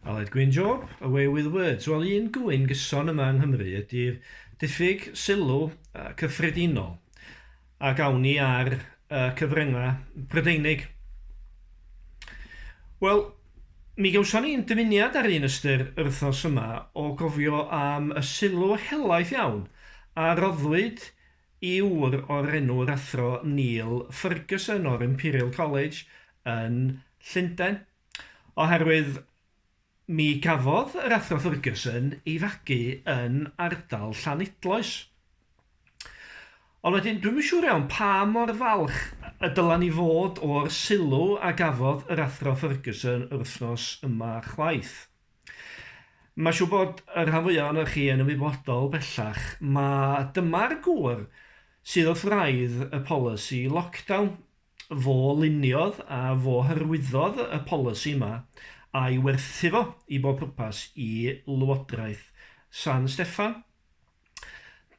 Aled Gwyn Job, away with words. Wel, un gŵyn gyson yma yng Nghymru ydy'r diffyg sylw cyffredinol a gawn ni ar uh, cyfryngau Prydeinig. Wel, mi gawson ni'n dymuniad ar un ystyr yr wythnos yma o gofio am y sylw helaeth iawn a roddwyd ŵr o'r enw yr Athro Neil Ferguson o'r Imperial College yn Llundain, oherwydd mi gafodd yr Athro Ferguson ei fagu yn ardal Llanidloes. Ond wedyn, dwi'm yn siŵr iawn pa mor falch y dyla ni fod o'r sylw a gafodd yr Athro Ferguson yr wythnos yma chwaith. Mae'n siŵr bod y rhan fwyaf ohonoch chi yn ymwybodol bellach mai dyma'r gŵr sydd wrth wraidd y polisi lockdown. Fo luniodd a fo hyrwyddodd y polisi yma a'i werthu fo i bob pwrpas i Lywodraeth San Steffan.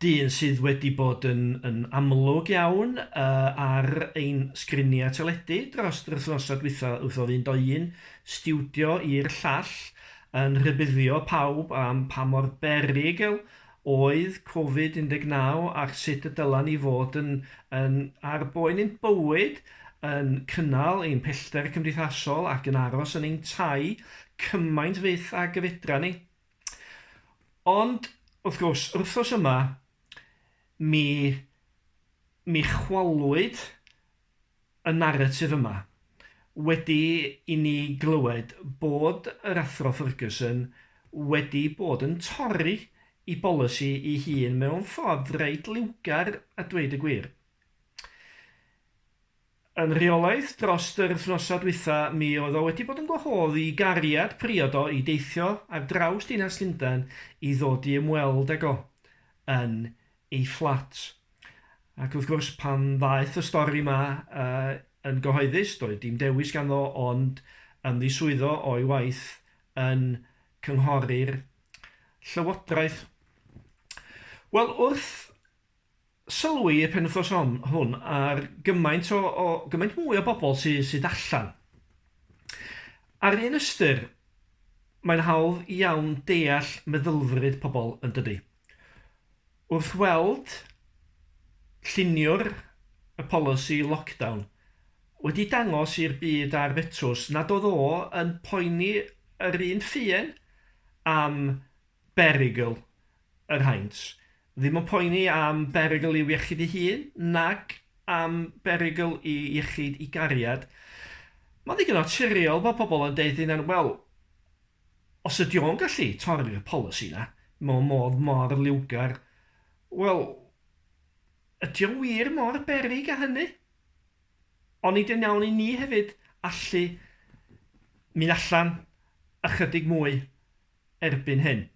dyn sydd wedi bod yn, yn amlwg iawn uh, ar ein sgriniau teledu dros yr wythnosau dwytha wrth o fynd o un stiwdio i'r llall yn rhybuddio pawb am pa mor berygl oedd Covid-19 ac sut y dylen ni fod yn, yn ar boen ein bywyd, yn cynnal ein pellter cymdeithasol ac yn aros yn ein tai cymaint fyth ag y fedra ni. Ond, wrth gwrs, yr wythnos yma, mi, mi chwalwyd y naratif yma wedi i ni glywed bod yr Athro Ferguson wedi bod yn torri ei bolisi ei hun mewn ffordd reit liwgar a dweud y gwir. Yn rheolaidd drost yr wthnosa dwytha mi oedd o wedi bod yn gwahodd i gariad priod o i deithio ar draws dinas Lundan i ddod i ymweld ag o yn ei fflat. Ac wrth gwrs pan ddaeth y stori ma yy yn gyhoeddus doedd dim dewis ganddo ond ymddiswyddo o'i waith yn cynghori'r Llywodraeth. Wel wrth Sylwi y penwythnos hon, hwn ar gymaint o, o gymaint mwy o bobl sy, sydd allan. Ar un ystyr, mae'n hawdd iawn deall meddylfryd pobl yn dydy. Wrth weld lluniwr y polisi lockdown wedi dangos i'r byd ar fetws nad oedd o yn poeni yr un ffuen am berygl yr haint, ddim yn poeni am berygl i'w iechyd ei hun, nag am berygl i iechyd i gariad. Mae'n ddigon naturiol bod pobl yn deud hynna'n, wel, os ydy o'n gallu torri'r polisi yna, mewn modd mor liwgar, wel, ydy o'n wir mor berig a hynny? Onid yn iawn i ni hefyd allu mynd allan ychydig mwy erbyn hyn.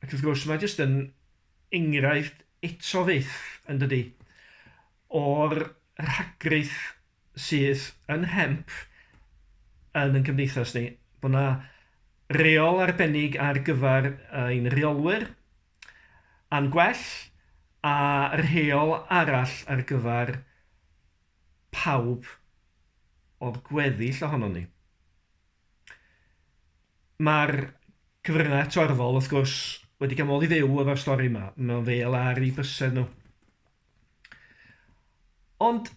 Ac wrth gwrs, mae jyst yn enghraifft eto fyth, yn dydy, o'r rhagryth sydd yn hemp yn yn cymdeithas ni, bod yna reol arbennig ar gyfer ein rheolwyr a'n gwell, a rheol arall ar gyfer pawb o'r gweddill ohonon ni. Mae'r cyfryngau torfol, wrth gwrs, wedi cael modd i fyw efo'r stori yma, mewn fel ar eu bysedd nhw. Ond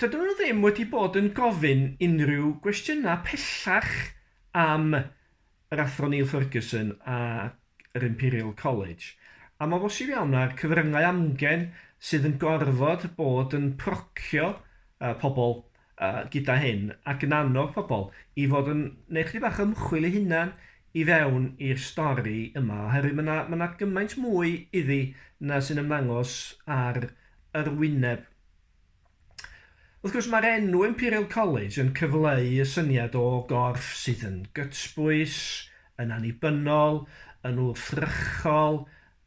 dydyn nhw ddim wedi bod yn gofyn unrhyw gwestiynau pellach am yr athro Neil Ferguson a yr Imperial College, am o bosib iawn â'r cyfryngau amgen sydd yn gorfod bod yn procio pobl gyda hyn ac yn annog pobl i fod yn neud chydig bach o ymchwil eu hunan i fewn i'r stori yma oherwydd mae 'na, mae 'na gymaint mwy iddi na sy'n ymddangos ar yr wyneb. Wrth gwrs, mae'r enw Imperial College yn cyfleu y syniad o gorff sydd yn gytbwys, yn annibynnol, yn wrthrychol,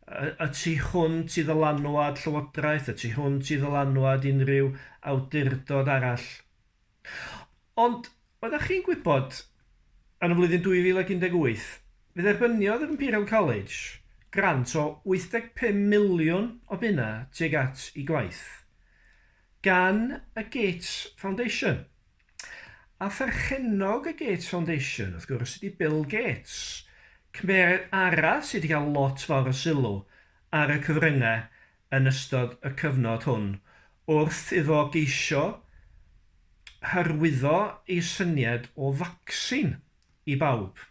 y, y tu hwnt i ddylanwad llywodraeth, y tu hwnt i ddylanwad unrhyw awdurdod arall. Ond, oeddach chi'n gwybod, yn y flwyddyn 2018, fe dderbyniodd yr Imperial College grant o 85 miliwn o bunnau tuag at ei gwaith, gan y Gates Foundation. A pherchennog y Gates Foundation, wrth gwrs, ydy Bill Gates, cymeriad arall sydd wedi cael lot fawr o sylw ar y cyfryngau yn ystod y cyfnod hwn wrth iddo geisio hyrwyddo ei syniad o facsin i bawb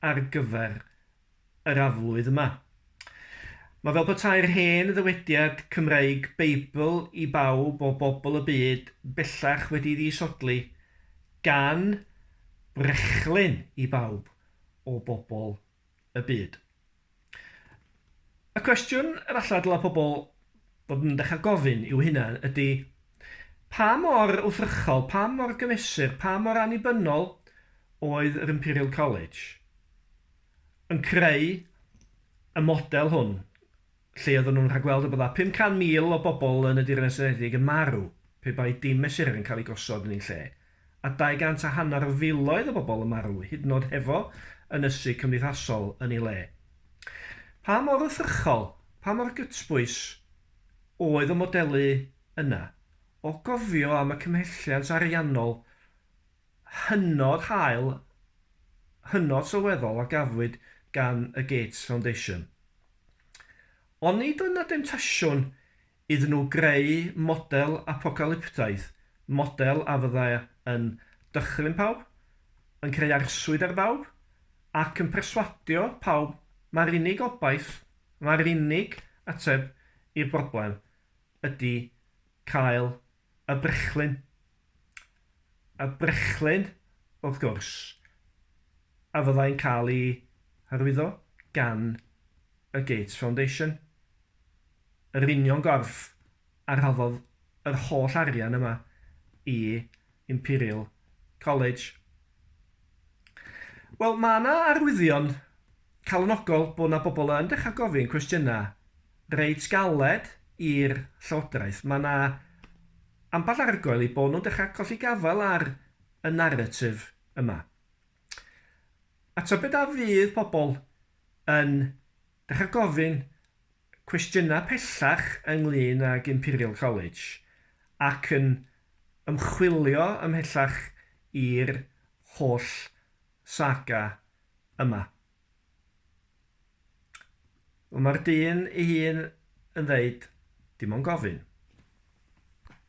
ar gyfer yr aflwydd yma. Mae fel petai'r hen ddywediad Cymreig 'Beibl i bawb' o bobl y byd bellach wedi'i ddisodli gan 'Brechlyn i bawb' o bobl y byd. Y cwestiwn yr alla dylai pobl fod yn dechrau gofyn i'w hunain ydy, pa mor wrthrychol, pa mor gymesur, pa mor annibynnol oedd yr Imperial College yn creu y model hwn lle oedden nhw'n rhagweld y bydda 500,000 o bobl yn y Deyrnas Unedig yn marw pe bai dim mesurau yn cael eu gosod yn eu lle, a dau gant a hanner o filoedd o bobl yn marw hyd yn oed hefo ynysu cymdeithasol yn ei le. Pa mor wrthrychol, pa mor gytbwys oedd y modelu yna? O gofio am y cymhelliant ariannol hynod hael, hynod sylweddol a gafwyd gan y Gates Foundation. Ond nid oedd 'na demtasiwn iddyn nhw greu model apocalyptaidd, model a fydda yn dychryn pawb, yn creu arswyd ar bawb, ac yn perswadio pawb mai'r unig obaith, mai'r unig ateb i'r broblem ydy cael Y brechlyn. Y brechlyn, wrth gwrs, a fyddai'n cael ei hyrwyddo gan y Gates Foundation. Yr union gorff a rhoddodd yr holl arian yma i Imperial College. Wel, mae 'na arwyddion calonogol bod 'na bobl yn dechrau gofyn cwestiynau reit galed i'r Llywodraeth. Mae yna ambell argoel eu bod nhw'n dechrau colli gafael ar y naratif yma. A tybed a fydd pobl yn dechrau gofyn cwestiynau pellach ynglŷn ag Imperial College ac yn ymchwilio ymhellach i'r holl saga yma. Ond mae'r dyn ei hun yn dweud, Dim ond gofyn.